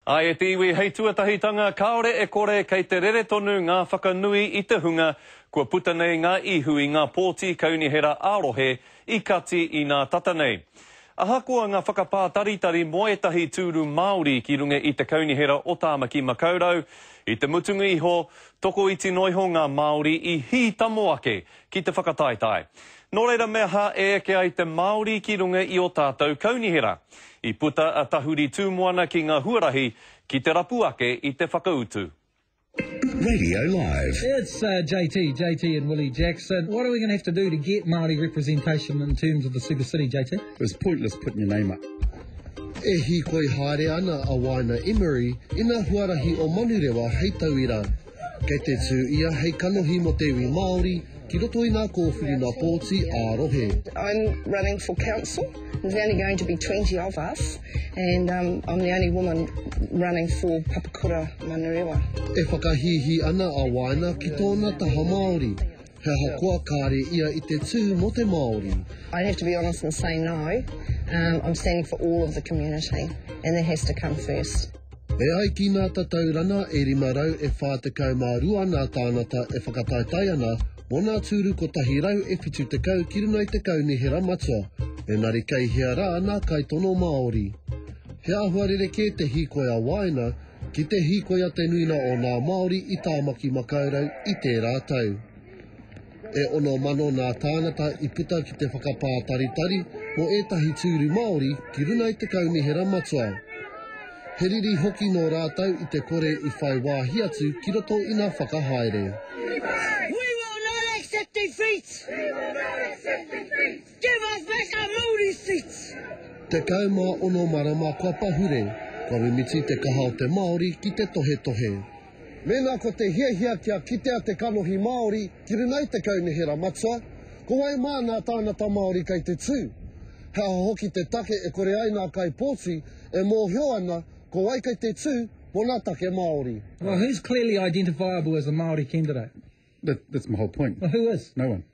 Ā, e te iwi hei tuatahitanga kāore e kore kei te rere tonu ngā whakanui i te hunga kua puta nei ngā ihu i ngā pōti kaunihera ā-rohe i kati inā tata nei. Ahakoa ngā whakapātaritari mō ētahi tūru Māori ki runga i te Kaunihera o Tāmaki Makaurau, i te mutunga iho, tokoiti noa iho ngā Māori i hītamo ake ki te whakataetae. Nō reira me aha e eke ai te Māori ki runga i ō tātou kaunihera? I puta a Tahuri Tūmoana ki ngā huarahi ki te rapu ake i te whakautu. Radio Live. It's uh, JT, JT and Willie Jackson. What are we going to have to do to get Māori representation in terms of the super city, JT? It was pointless putting your name up. E hīkoi haere ana a Waina Emery i ngā huarahi o Manurewa hei tauira Kei te tū ia hei kanohi mō te iwi Māori ki roto i ngā kōwhiri nā pōti ā rohe. I'm running for council. There's only going to be 20 of us and um, I'm the only woman running for Papakura Manurewa. E whakahīhī ana a Waina ki tōna taha Māori. He ahakoa kāre ia i te tū mō te Māori. I'd have to be honest and say no. Um, I'm standing for all of the community and that has to come first. E ai ki nā tatau rana e 500 e 42 nā tānata e whakataetae ana mō nā tūru 170 ki runga i te kaunihera matua, engari kei hea rā nā kaitono Māori. He āhua rerekē te hīkoi a Wāina Ki te hīkoia te nuina o ngā Māori i Tāmaki Makaurau i tērā tau. E ono mano ngā tāngata i puta ki te whakapātaritari mō ētahi tūru Māori ki runga i te Kaunihera Matua. He riri hoki nō rātou i te kore i whai wāhi atu ki roto i ngā whakahaere. We will not accept defeat! We will not accept defeat! Give us back our Maori seats! 16 marama kua pahure, kua mimiti te kaha o te Māori ki te tohetohe. Mēnā ko te hiahia kia kitea te kanohi Māori ki runga i te kaunihera matua, ko wai mā nā tāngata Māori kei te tū? He aha hoki te take e kore ai nā kaipōti e mōhio ana ko wai kei te tū mō nā take Māori? Well, who's clearly identifiable as a Māori candidate? That's my whole point. Well, who is? No one.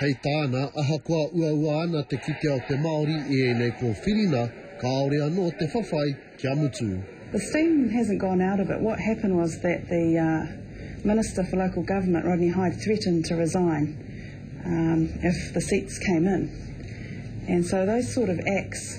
Hei tāna, ahakoa uaua ana te kitea o te Māori i ēnei kōwhiringa, kāore anō te whawhai kia mutu. The steam hasn't gone out of it. What happened was that the Minister for Local Government, Rodney Hide, threatened to resign if the seats came in. And so those sort of acts.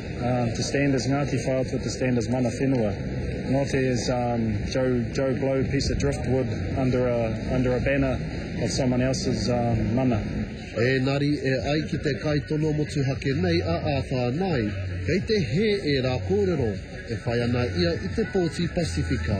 To stand as Ngāti Whātua to stand as mana whenua, not as Joe Blow piece of driftwood under a under a banner of someone else's mana. Ēnari, e ai ki te kaitono motuhake nei a Arthur Nye, kei te hē ērā kōrero e whai ana ia i te pōti Pasifika.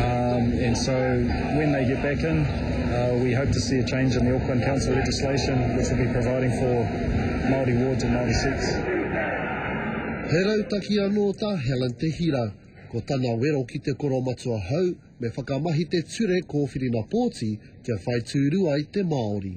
Um, and so when they get back in, uh, we hope to see a change in the Auckland Council legislation, which will be providing for Māori wards and Māori seats. He rautaki anō tā Helen Te Hira. Ko tana wero ki te koro matua hou, me whakamahi te ture kōwhirinapōti kia whai tūru ai te Māori.